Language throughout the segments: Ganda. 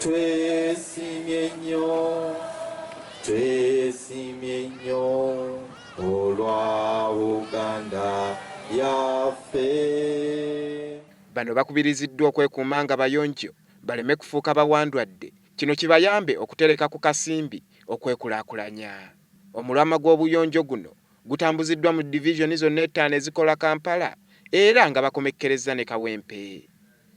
Twesimye nnyo, twesimye nnyo olwa Buganda yaffe. Bano bakubiriziddwa okwekuuma nga bayonjo baleme kufuuka bawandwadde kino kibayambe okutereka ku kasimbi okwekulakulanya. Omulamwa gw'obuyonjo guno gutambuziddwa mu division zonna ettaano ezikola Kampala era nga bakomekkerezza ne Kawempe.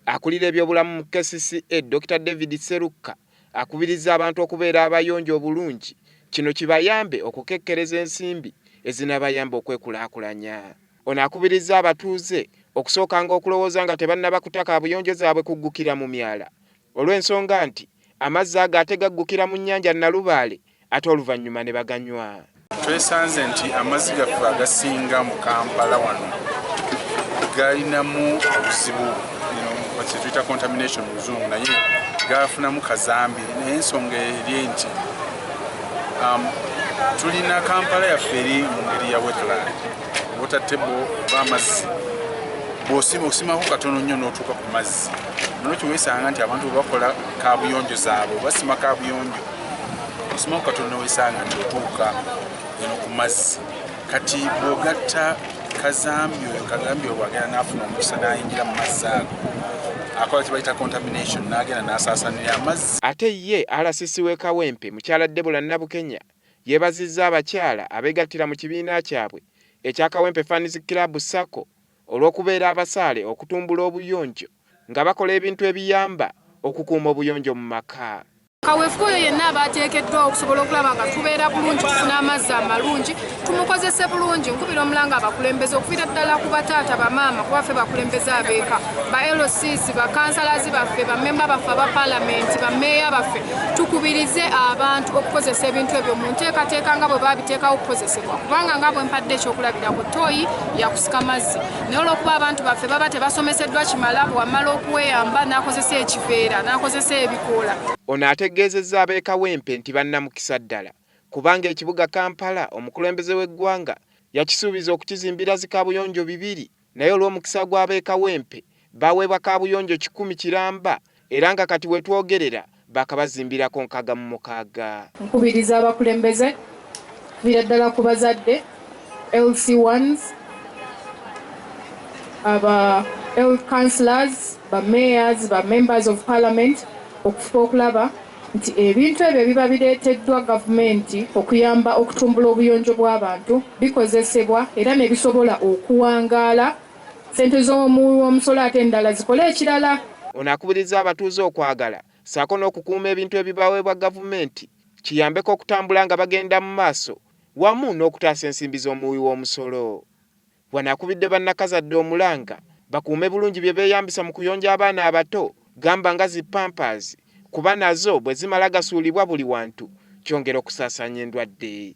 Akulira ebyobulamu mu kcca Dokita David Sserukka akubirizza abantu okubeera abayonjo obulungi kino kibayambe okukekkereza ensimbi ezinabayamba okwekulaakulanya. Ono akubirizza abatuuze okusookanga okulowooza nga tebannaba kuta kaabuyonjo zaabwe kuggukira mu myala olw'ensonga nti amazzi ago ate gaggukira mu nnyanja Nalubaale ate oluvannyuma ne baganywa. Twesanze nti amazzi gaffe agasinga mu Kampala wano galinamu obuzibu kyetuyita contamination mu luzungu naye gafunamu kazambi naye ensonga eri nti um, tulina kampala yaffe eri mu ngeri ya wetland wotatebo oba amazzi bwosima osimako katono nnyo n'otuuka ku mazzi nolwekyo wesanga nti abantu bwebakola kabuyonjo zaabwe basima kabuyonjo osoma katonda wesanga nti otuuka eno ku mazzi kati bwogatta kazambi oyo kazambi oyo bwagenda nafuna omukisa nayingira mu mazzi ago akola kibayita contamination nagenda nasasanira amazzi ate ye rcc we kawempe mukyala debula nabukenya yebazizza abakyala abegattira mu kibiina kyabwe ekya kawempe fans club sacco olw'okubeera abasaale okutumbula obuyonjo nga bakola ebintu ebiyamba okukuuma obuyonjo mu maka kaweefube oyo yenna aba ateekeddwawo okusobola okulaba nga tubeera bulungi tufuna amazzi amalungi tumukozese bulungi nkubira omulanga abakulembeze okuvira ddala ku bataata bamaama kuba ffe bakulembeze abeeka ba lcs bakansalazi baffe bamemba baffe aba palamenti bameeya baffe tukubirize abantu okukozesa ebintu ebyo mu nteekateeka nga bwe babiteekawo okukozesebwa kubanga nga bwe mpadde ekyokulabirako tooyi yakusika mazzi naye olwokuba abantu baffe baba tebasomeseddwa kimala bwewamala okuweyamba nakozesa ekiveera nakozesa ebikoola ono ategeezezza ab'ekawempe nti bannamukisa ddala kubanga ekibuga kampala omukulembeze w'eggwanga yakisuubiza okukizimbira zikabuyonjo bibiri naye olw'omukisa gw'ab'ekawempe baweebwa kaabuyonjo kikumi kiramba era nga kati we twogerera baakabazimbirako nkaaga mu mukaaga. Nkubiriza abakulembeze okuviira ddala ku bazadde, LC Ones, aba Health Councillors, ba Mayors, ba Members of Parliament okufuba okulaba nti ebintu ebyo ebiba bireeteddwa gavumenti okuyamba okutumbula obuyonjo bw'abantu bikozesebwa era ne bisobola okuwangaala Ssente z'omuwi w'omusolo ate endala zikole ekirala. Ono akubirizza abatuuze okwagala ssaako n'okukuuma ebintu ebibaweebwa gavumenti kiyambeko okutambula nga bagenda mu maaso wamu n'okutaasa ensimbi z'omuwi w'omusolo. Wano akubidde bannakazadde omulanga bakuume bulungi bye beeyambisa mu kuyonja abaana abato gamba nga zi Pampers kuba nazo bwe zimala gasuulibwa buli wantu kyongera okusaasaanya endwadde.